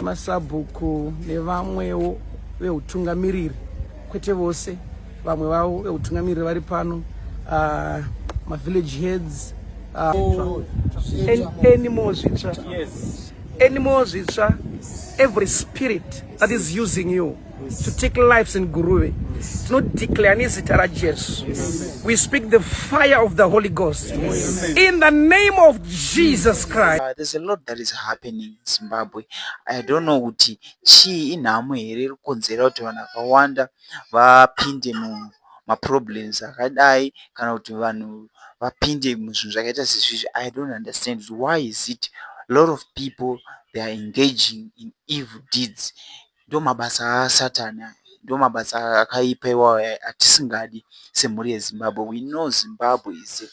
masabhuku nevamwewo veutungamiriri kwete vose vamwe vavo veutungamiriri vari pano uh, mavillage heads uh, oh, anymore zvitsva yes. anymore zvitsva every spirit that is using you yes. to take lives in guruve yes. to not declare nezita rajesu yes. we speak the fire of the holy ghost yes. in the name of jesus christ uh, there's a lot that is happening Zimbabwe. I don't know kuti chii inhamo here iri kukonzera kuti vanhu vakawanda vapinde muma problems akadai kana kuti vanhu vapinde muzvinhu zvakaita sezvizvi I don't understand why is it a lot of people they are engaging in evil deeds. Ndomabasa asatani aya ndomabasa akaipa iwayo atisingadi semhuri yezimbabwe we know zimbabwe is a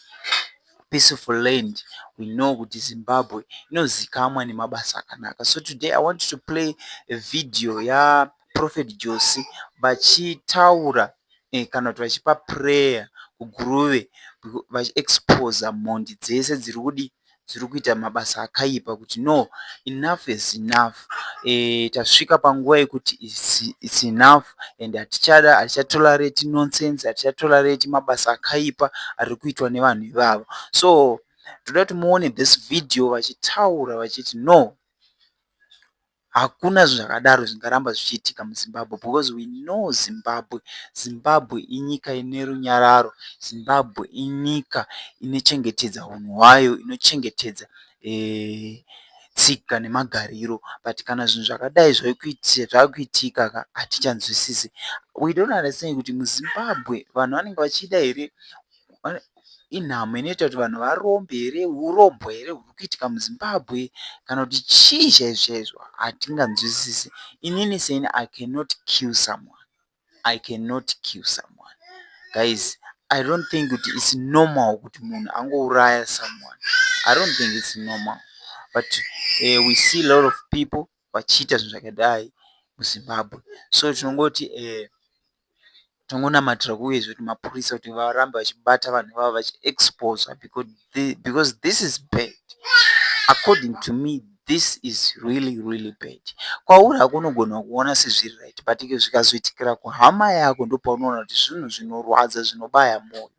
peaceful land we know kuti zimbabwe inozikamwa nemabasa akanaka so today i want to play a video yaprofet jose vachitaura eh, kana kuti vachipa prayer kuguruve vachiexposa mhondi dzese dziri kudii dziri kuita mabasa akaipa kuti no enough is enough tasvika panguva yekuti its enough and hatichada hatichatolerate nonsense hatichatolerate mabasa akaipa ari kuitwa nevanhu ivavo so toda kuti muone this video vachitaura vachiti no Hakuna zvinhu zvakadaro zvingaramba zvichiitika muZimbabwe because we know Zimbabwe. Zimbabwe inyika ine runyararo. Zimbabwe inyika inochengetedza hunhu hwayo, inochengetedza tsika nemagariro but kana zvinhu zvakadai zvakuitika ka hatichanzwisisi. We don't understand kuti muZimbabwe vanhu vanenge vachida here. inhamo inoita kuti vanhu varombe here hurombwa here huri kuitika muzimbabwe kana kuti chii chaizvo chaizvo hatinganzwisisi inini seni i cannot kill someone i cannot kill someone guys i don't think kuti its normal kuti munhu angouraya someone i don't think its normal but uh, we see a lot of people vachiita zvinhu zvakadai muZimbabwe so tinongoti tongonamatira kuuyezve kuti mapurisa kuti varambe vachibata vanhu ivavo vachiexposa because this is bad according to me this is really really bad kwauri hako unogona kuona sezviri right but zvikazoitikira kuhama yako ndopaunoona kuti zvinhu zvinorwadza zvinobaya mwoyo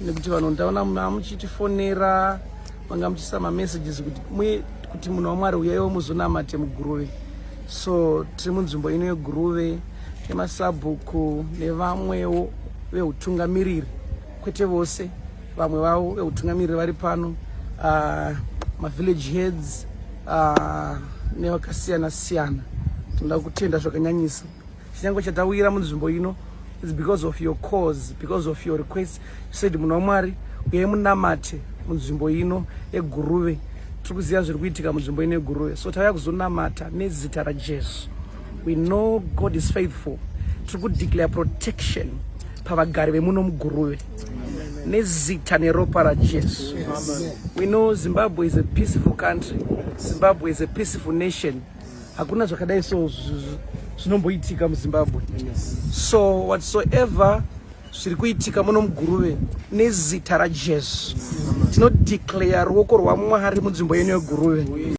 nekuti vanhu ndaona mamuchitifonera manga muchiisa mamessages kuti mwe kuti munhu wamwari uyaiwo muzonamate muguruve so tiri munzvimbo ino yeguruve nemasabhuku nevamwewo veutungamiriri kwete vose vamwe vavo veutungamiriri vari pano uh, mavillage heads uh, nevakasiyana siyana tinoda kutenda zvakanyanyisa chinyango chatawira munzvimbo ino is because of your cause because of your request you said munhu wamwari uyai munamate munzvimbo ino eguruve tiri kuziva zviri kuitika munzvimbo ino eguruve so tauya kuzonamata nezita rajesu we know god is faithful tiri kudeclare protection pavagari vemuno muguruve nezita neropa rajesu we know zimbabwe is a peaceful country zimbabwe is a peaceful nation hakuna zvakadai so zvinomboitika muzimbabwe so whatsoever zviri kuitika muno muguruve nezita rajesu tinodeclare ruoko rwamwari munzvimbo yenu yeguruve